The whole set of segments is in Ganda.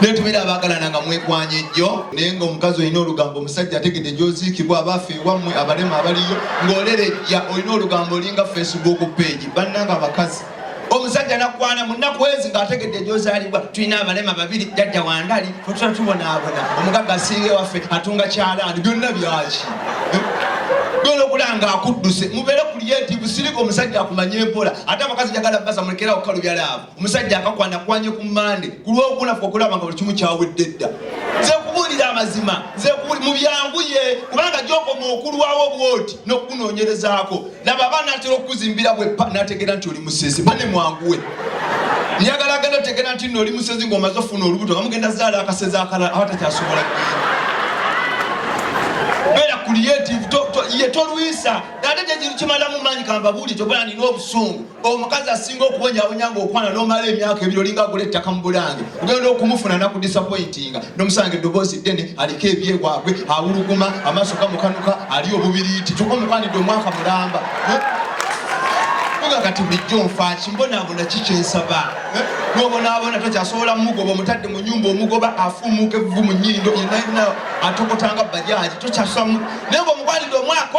naye tubeera abaagalana nga mwekwanya ejjo naye nga omukazi olina olugambo omusajja ategedde gyoziikibwa abaffe ewammwe abalema abaliyo ng'olerejja olina olugambo olinga facebook page bannanga abakazi omusajja nakwana munaku ezi ng'ategedde gyozaalibwa tulina abalema babiri jajja wandali Kutula tubonaabona omugagga asinga ewaffe atunga kyalaani byonna byaki genda okulanga akudduse mubeere kuliyetivu sirika omusajja akumanye empola ate abakazi jagala basa mulekera okukalu byalaavu omusajja akakwana kwanye ku mande ku lwokuna fe okulaba nga buli kimu kyawedde dda nze kubuulira amazima nze mu byanguye kubanga gyokoma okulwawo bwoti n'okukunoonyerezaako laba aba natera okukuzimbira bwepa nategeera nti oli musezi bane mwanguwe njagala genda otegeera nti no oli musezi ngaomaze ofuna olubuto nga mugenda zaala akasezi akalala aba takyasobola beera creative ye tolwisa ate kyekimalamu maanyi kambabuuli kyobala nina obusungu omukazi asinga okuwonyawonya nga okwana nomala emyaka ebiri olinga agula ettaka mu bulange ogenda okumufuna nakudisapointinga nomusanga eddoboozi ddene aliko ebyewabwe awuluguma amaaso gamukanuka ali obubiriiti kyuka omukwanidde omwaka mulamba eh? kuga kati bulijjo nfaaki mbonaabona kikyensaba eh? nobonaabona tokyasobola mugoba omutadde mu nyumba omugoba afumuuka evvu mu nyindo yenayina atokotanga bajaji tokyasobola naye nga omukwanidde omwaka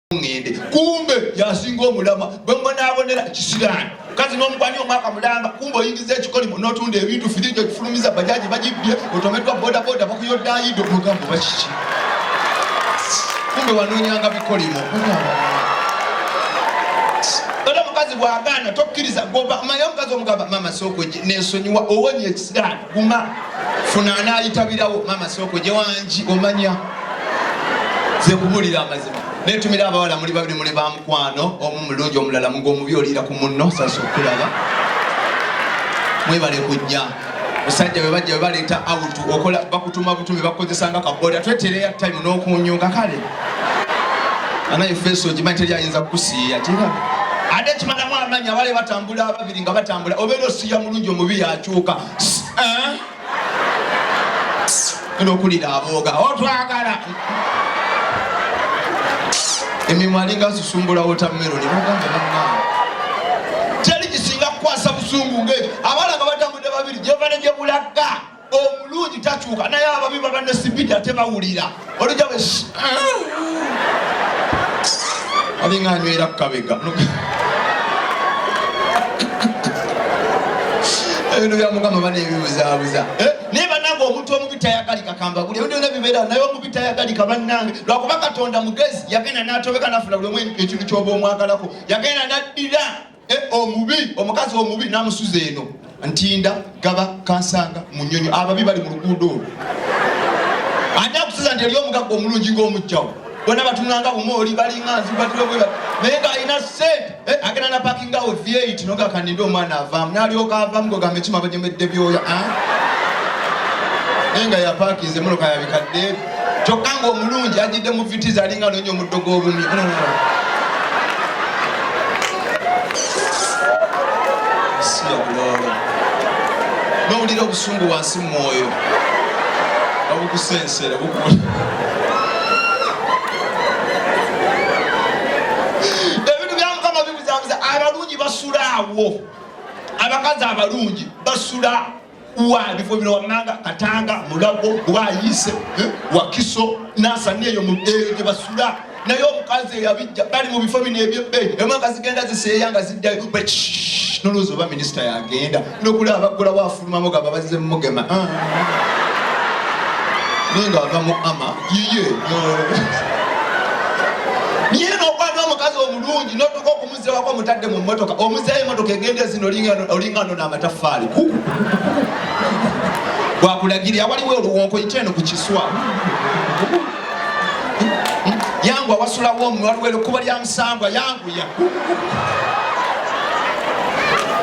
ngende kumbe yasinga omulama bwemubonaabonera kisiraani kazi nomukwani omwaka mulamba kumbe oyingiza ekikolimo notunda ebintu firiji okifulumiza bajaji bagibbye otomeddwa bodaboda bakuyoddayido mugambo bakiki kumbe wanoonyanga bikolimo era mukazi bwagaana tokkiriza goba maye omukazi omugamba mama sokweje nensonyiwa owonye ekisiraani guma funa anayitabirawo mama soko jewangi omanya zekubulira amazima netumira abawala muli babiri muli bamukwano omu mulungi omulala mugo omubi oliira ku munno sasa okulaba mwebale kujja musajja webajja webaleeta autu okola bakutuma butumi bakukozesanga kaboda twetereya time nokunyunga kale anaye feso ogimanyi teri ayinza kukusiiya tira ate kimalamu amanya abale batambula babiri nga batambula obeera osiya mulungi omubi yakyuka eh? nokulira abooga otwagala emimwa alinga susumbula wotameroni nogamba nama teri kisinga kukwasa busungu nge abala nga batambudde babiri gyevane gyebulagga omulungi takyuka naye ababi baba ne sibidi ate bawulira olija we alinga anywera kukabega ebintu bya mukama bana ebibuzabuza eh? naye banange omuntu omubi tayagalika kambaguli ebintu byona bibeera naye omubi tayagalika banange lwakuba katonda mugezi yagenda natobeka nafuna buli omu ekintu kyoba omwagalako yagenda naddira E, omubi omukazi omubi namusuza eno ntinda gaba kansanga munyonyo ababi bali mu luguudo olwo ani akusuza nti eri omugagga omulungi ngaomujjawo bona batunulanga bumooli balinga nzibatulobweba naye ngaalina sente eh, agenda na pakingawo vyeit noga kaninde omwana avaamu nalyoka avaamu gogamba ekima bajemedde byoya ah? naye nga yapakinze muloka yabikadde kyokka ng'omulungi ajjidde mu vitizi alinga anoonya omuddo gw'obumyu nowulira obusungu wansi mu mwoyo obukusensera bukuli ebintu bya mukama bibuzabuza abalungi basula awo abakazi abalungi basula wa bifo bino wammanga katanga mulago wayiise eh, wakiso nansani eyo eyo gye basula naye omukazi eyabijja bali mu bifo bino ebyebbeeyi emwaka zigenda ziseeya nga ziddayo nolowooza oba minisita yagenda nokulaba baggulawo afulumamu nga babazze mumugema ah. naye nga ava mu ama yiye naye nokwata omukazi omulungi notuka omuze wako mutadde mu motoka omuzeeyo emotoka egenda ezina olinga nona amataffaali gwakulagirira waliwo oluwonko yita eno ku kiswa yangu awasulawo omu waliwo ekuba lya musambwa yanguya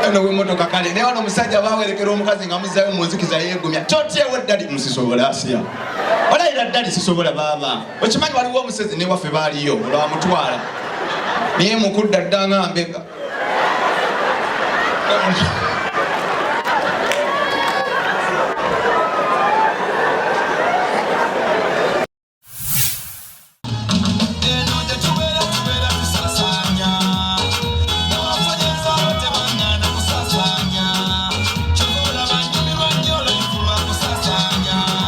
eno wemotoka kale naye wano omusajja bawerekera omukazi nga muzayo munzikiza yegumya totyewo ddali musisobola asiya olayira ddali sisobola baaba okimanyi waliwo omusezi ne waffe baaliyo olwamutwala naye mukudda dda nga mbega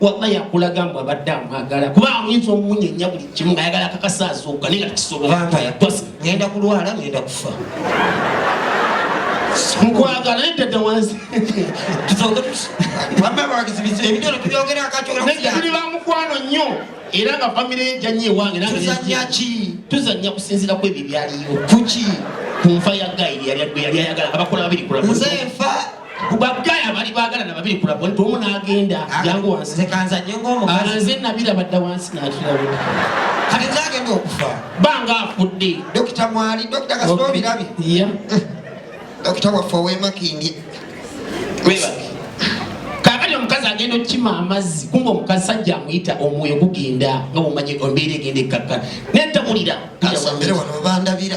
waba yakulaga mbu abadde amwagala kuba ayinza omunyenya buli kimu ngayagala akakasa azuuka naye nga tekisobolaagenda kulwala ngenda kufa nkwagala naye tedda wansi tuli bamukwano nnyo era nga famire ye janyo ewange tuzanyaki tuzanya kusinzira ku ebyo byaliyo kuki ku nfa ya gayiri yali yali ayagala abakola babiri kula nze nfa kubagaya bali bagala na babiri kula bonto omu nagenda yangu ah, wansi kanza nyengo omu alanze nabira badda wansi nakira we kati zage ndo kufa banga afudde dokita mwali dokita kasito birabi iya dokita wafa we makindi weba kakati omukazi agenda okukima amazzi kumba omukazi sajja amuyita omwoyo gugenda nga mumanyi ombeera egenda ekkakka nentawulira kasambere wano bandabira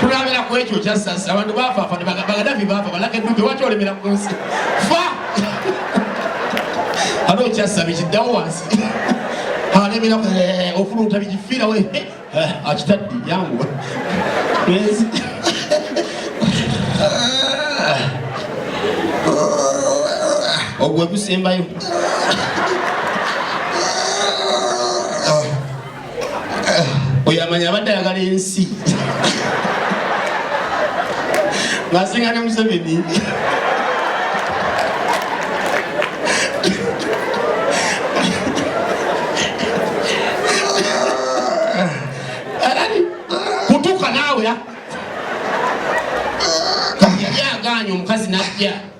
Tulabira ku ekyo kya sasa abantu bafaafa ne bagamba Gaddafi baafa balaka eddube waki olemera ku nsi fa ate okyasaba ekiddawo wansi alemera eh, ofuluuta bigifiira we eh, eh, akitaddi yanguwa ensi ogwe gusembayo eh, oyo amanya abadde ayagala ensi ngasinga ne museveni kutuuka naawe yali agaanya omukazi najja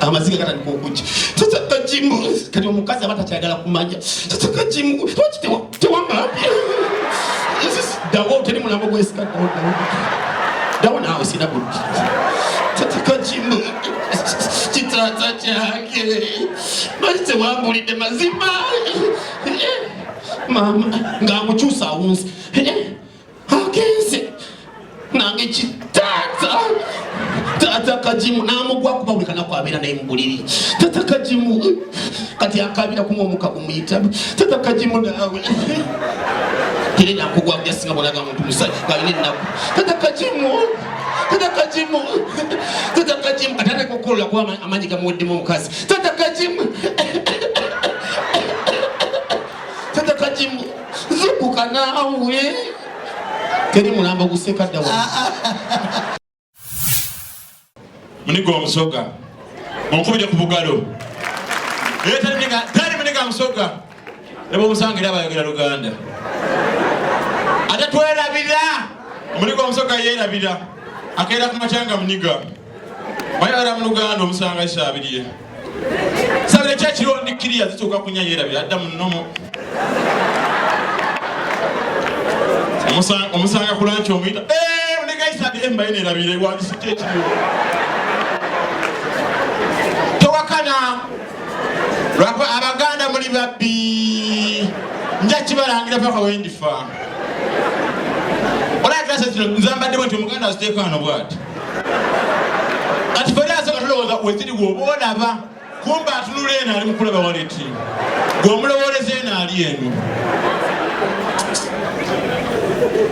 amaziga gatandika okujja sasa kajimu kati omukazi aba takyagala kumanya sasa kajimu lwaki tewamala dawo teri mulambo gwesika dawo dawo dawo naawe sina buddi sasa kajimu kitata kyange lwaki tewambulidde mazima eh, eh, mama ng'amukyusa awunzi eh, agenze nange kitaata taata kajimu namugwa kuba buli kanaku abeera naye mubuliri taata kajimu kati akabira kuma omuka gumuyita taata kajimu naawe era nakugwa kujasinga bolaga muntu musajja alina ennaku taata kajimu taata kajimu taata kajimu kati ateka okukolola kuba amaanyi gamuweddemu omukazi taata kajimu zukuka naawe teri mulambo guseka ddawa muniga omusoga onkubire ku bugalo tali muniga musoga neba omusanga era bayogera luganda ate twerabira muniga omusoga yerabira akeera ku matyanga muniga Mwayagala mu Luganda omusanga kisabiriye. Sabira kya kiro ndi kiriya zituuka kunya yerabira adda mu nnomo. Omusanga ku lanki omuyita. Eee eh, ndeka kisabire mbaye nerabira ewandisite ekiriwo. Towakana lwakuba Abaganda muli babbi. Nja kibalangira paka wendifa. Olabika sasira nzambadde bwenti omuganda aziteekaano bwati. kati feri asooka tulowooza weziri woba olaba kumba atunula eno ali mukulaba waleti gwe omulowooleza eno ali eno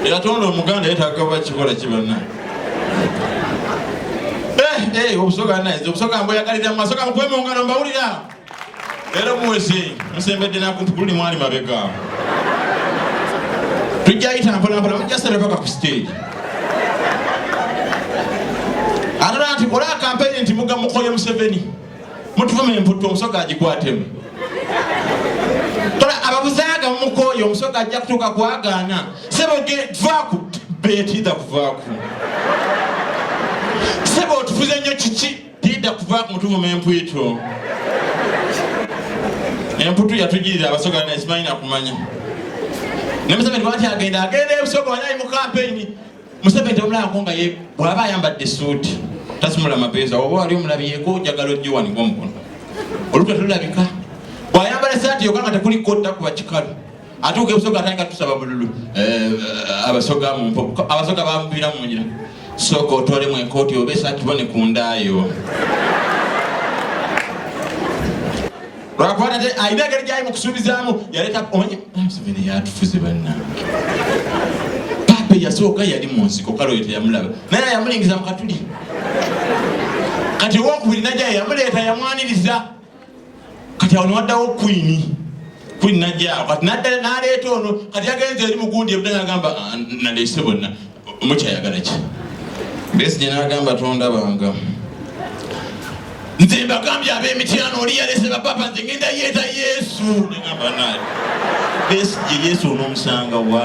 eyatonda omuganda yetagaba kikola kibana eh, eh, obusoga naye obusoga mboyagalira mumasoga mukwemungano mbawulira Era muweze musembedde nakumpi kululi mwali mabega tujja yita mpolampola mujja sera paka ku stage atala nti kola akampeyini nti muga mukoye museveni mutuvuma emputtu omusoga agikwatemu kola ababuzaaga mumukoye omusoga ajja kutuuka kwagaana sebo vaku betida kuvaku sebo otufuze nnyo kiki Tidda kuva ku mutuvuma empwitu. Emputu yatujirira abasoga naye simanyi nakumanya. Ne Museveni lwaki agenda agenda ebusoga wanayi mu kampeyini. Museveni temulabako nga ye bw'aba ayambadde suuti tasumula mapeesa oba wali omulabiyeko njagala ogiwanika omukono. Olutwe tulabika. Bw'ayambala essaati yokka nga tekuliko otta kuba kikalu. atuuka ebusoga atandika tusaba bululu eh, eh, abasoga mumpo abasoga bamubira munyira sooka otwalemu enkooti oba esatibone ku ndaayo lwakuba nate alina engeri gyali mu kusuubizaamu yaleeta onye ah, museveni yatufuze bannange papa eyasooka yali mu nsiko kale oyo teyamulaba naye yamulingiza mu katuli kati owokubiri najayo yamuleeta yamwaniriza kati awo newaddawo kwini kwini najjaawo kati naleeta ono kati yagenze eri mugundi ebudanga agamba ah, naleese bonna mukyayagala ki besi gyenagamba tondabanga nze mbagambye ab'emityano oli yalese bapapa nze ngenda yeeta yesu negamba naye besi gye yesu onomusanga wa